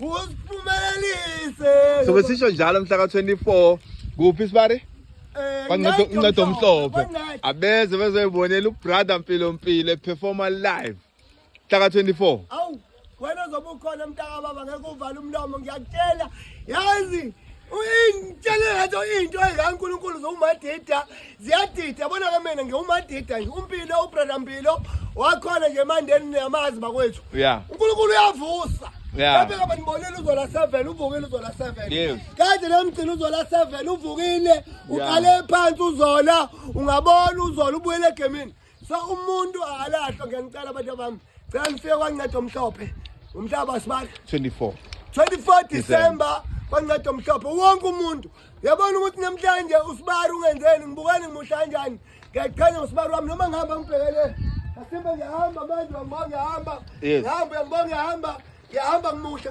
Usiphumelelise. So besisho njalo mhla ka 24 kuphi sibari? Eh, Bancedo uncedo omhlophe. Abeze bezoyibonela ubrother Mpilo Mpilo eperforma live. Mhla ka 24. Awu wena zoba ukhona mntaka baba ngeke uvale umlomo ngiyakutshela. Yazi uyintshela into into engankulunkulu zomadida ziyadida yabona ke mina ngiwumadida nje umpilo ubrother mpilo wakhona nje emandeni niyamazi bakwethu Yeah. unkulunkulu uyavusa Yeah. Kambe kaba nibonile uzola 7 uvukile uzola 7 Yes. kade nemgcina uzola 7 uvukile uqale phansi uzola ungabona uzola ubuyele egemini so umuntu akalahlwa ngiyanicela abantu bami cela nifike kwanceda omhlophe umhlaba sibali 24 24 December kwanceda omhlophe wonke umuntu yabona ukuthi namhlanje usibari ungenzeni ngibukani ngimuhle kanjani ngiyakuchanya ngosibari wami noma ngihamba ngibhekele asimbe ngiyahamba manje uyangibona ngiyahamba ngihamba uyangibona ngiyahamba ngiyahamba ngimuhle